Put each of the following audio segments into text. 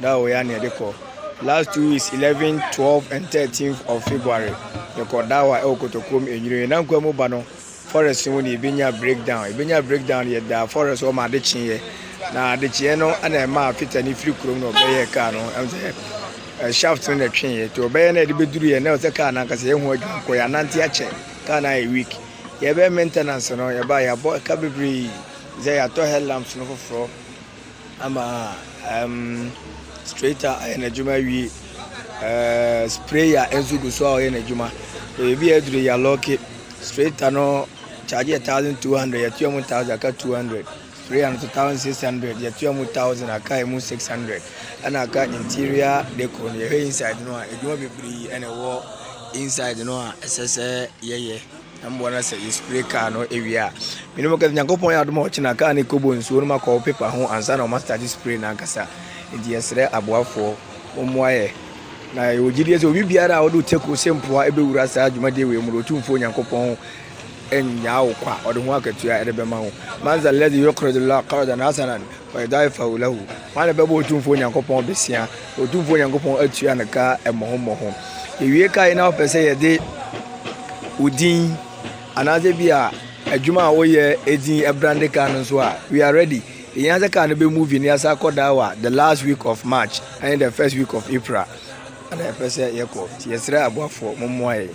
Da o ya na yɛde kɔ last two weeks eleven twelve and thirteen of February yɛkɔ dawa ɛwɔ Kotokuom enyire na nkwa mu ba no forest ho na yɛbɛnya breakdown yɛbɛnya breakdown no yɛda forest hɔ ma ade kyeeɛ na ade kyeeɛ no ɛna ɛma afita ne firi kurom na ɔbɛyɛ kaa no ɛm sɛ eh, shaft no na ɛtweeɛ nti ɔbɛyɛ na yɛde bɛduru yɛ na ɛsɛ kaa no ankasa yɛho adwuma nkɔ yɛ anante akyɛ kaa no ayɛ week yɛbɛyɛ maintenance no yɛba yɛabɔ ɛka bebree sɛ yɛatɔ headlamps no foforɔ Ama ɛɛm straighter ayɛ n'adwuma awie. Ɛɛ sprayer nso gu so a ɔyɛ n'adwuma. Ebi a aduru yɛ lɔɔke. Straighter no charge yɛ thousand two hundred yɛtua mu thousand aka two hundred. Sprayer no nso thousand six hundred yɛtua mu thousand aka emu six hundred. Ɛna aka interior decor no yɛhwɛ inside no a adwuma bebree ɛna ɛwɔ inside no a ɛsɛ sɛ yɛyɛ. Na meboa no sɛ yɛspray car no awie a, me ne mokasa. Nyankopɔn yɛ adom a ɔkyena car no kɔbɔ nsuo no ma kɔɔ paper ho ansa na wɔn astate spray no ankasa. Nti yɛsrɛ aboafoɔ mommoa yɛ. Na yɛwɔ gyidie sɛ obi biara a ɔde otako se mpoa bɛwura saa dwumadie wei mu no, Otumfoɔ Nyankopɔn nnyaa wo kwa, ɔde ho akatua de bɛma wo. Man zalladhi yuqridu Llaaha qardan hasanan. Wɔadaaefawo lahu, hwan na ɛbɛbɔ Otumfoɔ Nyankopɔn abesea? Otumfoɔ Nyankopɔn atua no ka mmɔho mmɔho. Yɛwie ka yi na wopɛ sɛ yɛde wo din anaasɛ bi a adwuma a woyɛ edin ɛbrande kaa no nso a, we are ready. Yɛhia sɛ kaa no bɛ movie na yɛasa akɔ daawa the last week of March ɛne the first week of April. Ana yɛpɛ sɛ yɛkɔ nti yɛsrɛ aboafoɔ mommoa yɛn.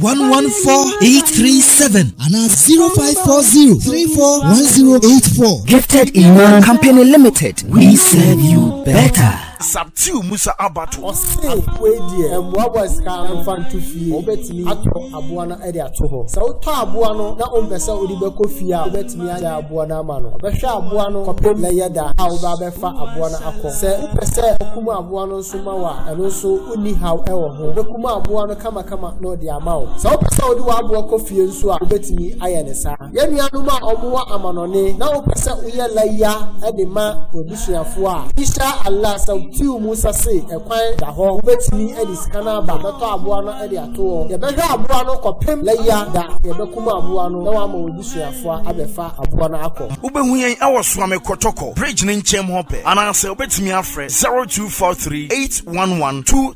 one one four eight three seven and na zero five four zero three four one zero eight four. Gifted Iman Company Limited, we serve you better. Sabtiu Musa Abato. Ɔse wei deɛ mmoaboa sika no fa nto fie wobɛtumi atɔ aboa no de ato hɔ sɛ wotɔ aboa no na wompɛ sɛ wode bɛkɔ fie a wobɛtumi agya aboa no ama no ɔbɛhwɛ aboa no kɔpem na yɛ da a wobɛ abɛfa aboa no akɔ sɛ wopɛ sɛ ɔkum aboa no nso ma wo a ɛno nso wonni haw ɛwɔ ho wobɛkum aboa no kama kama na ɔde ama wo. Sɛ wopɛ sɛ wode w'aboa kɔ fie nso a, wobɛtumi ayɛ ne saa. Yɛn nuanom a wɔwɔ amanɔne na wopɛ sɛ woyɛ layya de ma w'abusuafoɔ a, insha Allah sɛ wotiw mu sa se ɛkwan da hɔ, wobɛtumi de sika no aba abɛtɔ aboa no de ato hɔ. Yɛbɛhwɛ aboa no kɔpem layya da. Yɛbɛkum aboa no na wɔama w'abusuafoɔ abɛfa aboa no akɔ. Wobɛhu yɛn wɔ Suame Kɔtɔkɔ bridge no nkyɛm hɔ pɛ anaasɛ wobɛtumi afrɛ 0243 811 2.